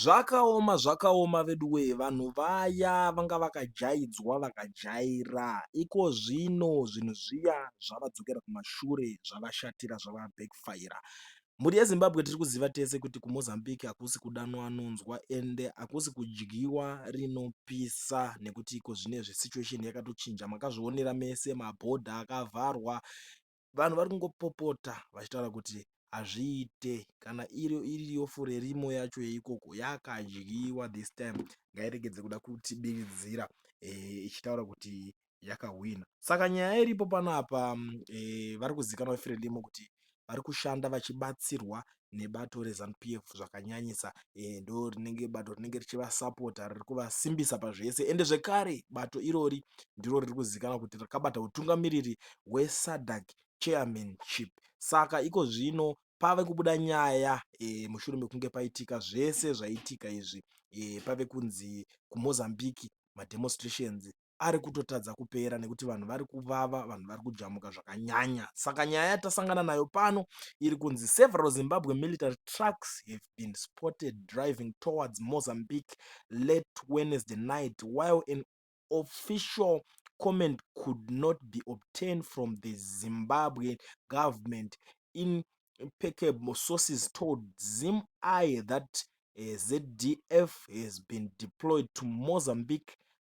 Zvakaoma zvakaoma veduwee vanhu vaya vanga vakajaidzwa vakajaira ikozvino zvinhu zviya zvavadzokera kumashure zvavashatira zvavabackfire. Mhuri yeZimbabwe tiri kuziva tese kuti kuMozambique hakusi kudanwa anonzwa ende hakusi kudyiwa rinopisa nekuti ikozvinezvi situation yakatochinja makazvionera mese mabhodha akavharwa vanhu vari kungopopota vachitaura kuti hazviite kana iri iriyo furerimo yacho yeikoko yakadyiwa this time ngairegedze kuda kutibiridzira eh, ichitaura e, kuti yakahwina saka nyaya iripo panapa e, eh, vari kuzikanwa furerimo kuti vari kushanda vachibatsirwa nebato reZanu PF zvakanyanyisa ndorinenge bato rinenge richivasapota riri kuvasimbisa pazvese ende zvekare bato irori ndiro riri kuzivikanwa kuti rakabata utungamiriri hweSADC chairmanship saka iko zvino pave kubuda nyaya e, mushure mekunge paitika zvese zvaitika izvi e, pave kunzi kumozambique mademonstrations ari kutotadza kupera nekuti vanhu vari kuvava vanhu vari kujamuka zvakanyanya saka nyaya yatasangana nayo pano iri kunzi several zimbabwe military trucks have been spotted driving towards mozambique late wednesday night while an official comment could not be obtained from the zimbabwe government in impeccable sources told zim i that eh, zdf has been deployed to mozambique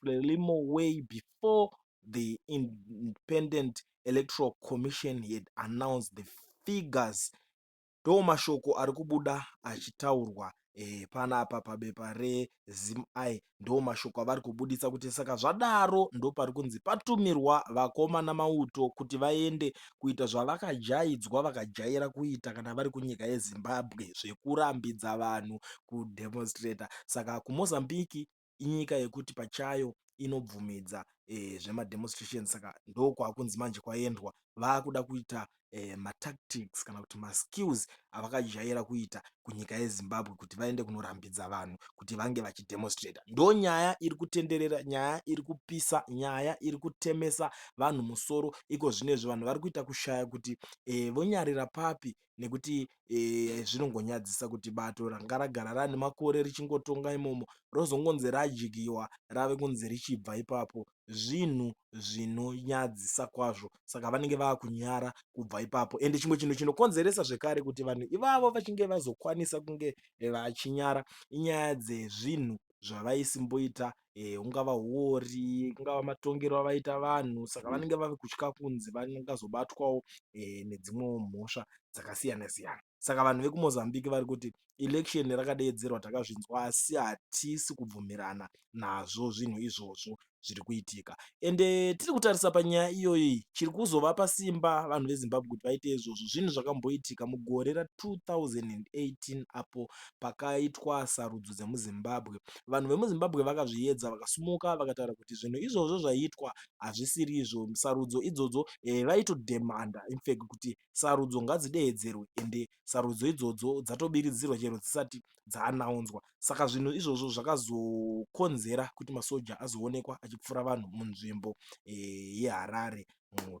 Frelimo way before the Independent Electoral Commission had announced the figures. Ndo mashoko ari kubuda achitaurwa eh, panapa pabepa reZimAi ndo mashoko avari kubuditsa kuti saka zvadaro ndo pari kunzi patumirwa vakoma namauto kuti vaende kuita zvavakajaidzwa vakajaira kuita kana vari kunyika yeZimbabwe zvekurambidza vanhu kudemonstrata saka kuMozambique inyika yekuti pachayo inobvumidza zvema demonstration saka ndokwakunzi manje kwaendwa vakuda kuita eh, matactics kana kuti maskills avakajaira kuita kunyika yezimbabwe kuti vaende kunorambidza vanhu kuti vange vachidemonstrata ndo nyaya iri kutenderera nyaya iri kupisa nyaya iri kutemesa vanhu musoro iko zvinezvi vanhu vari kuita kushaya kuti eh, vonyarira papi nekuti zvinongonyadzisa kuti bato ranga ragara rane makore richingotonga imomo rozongonzi radyiwa rave kunzi richibva ipapo zvinhu zvinonyadzisa kwazvo saka vanenge vava kunyara kubva ipapo ende chimwe chinhu chinokonzeresa zvekare kuti vanhu ivavo vachinge vazokwanisa kunge vachinyara inyaya dzezvinhu zvavaisimboita eh, ungava huori ungava matongero avaita vanhu saka mm. vanenge vave kutya kunzi vangazobatwawo eh, nedzimwewo mhosva dzakasiyana siyana saka vanhu vekumozambique vari kuti election rakadeedzerwa takazvinzwa asi hatisi kubvumirana nazvo zvinhu izvozvo zviri kuitika ende tiri kutarisa panyaya iyoyi chiri kuzovapa simba vanhu vezimbabwe kuti vaite izvozvo zvinhu zvakamboitika mugore ra 2018 apo pakaitwa sarudzo dzemuZimbabwe. Vanhu vemuZimbabwe vakazviedza vakasumuka vakataura kuti zvinhu izvozvo zvaiitwa hazvisiri izvo sarudzo idzodzo eh, vaitodhemanda infec kuti sarudzo ngadzideedzerwe ende sarudzo idzodzo dzatobiridzirwa chero dzisati dzaanaunzwa saka zvinhu izvozvo zvakazokonzera kuti masoja azoonekwa achipfura vanhu munzvimbo eh, yeharare eh,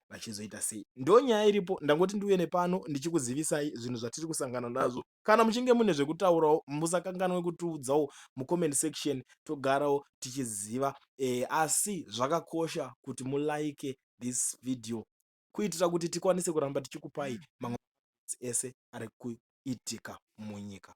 vachizoita sei ndonyaya iripo ndangoti ndiuye nepano ndichikuzivisai zvinhu zvatiri kusangana nazvo kana muchinge mune zvekutaurawo musakanganwe kutiudzawo mucomment section togarawo tichiziva e, asi zvakakosha kuti mulike this video kuitira kuti tikwanise kuramba tichikupai mamwe ese ari kuitika munyika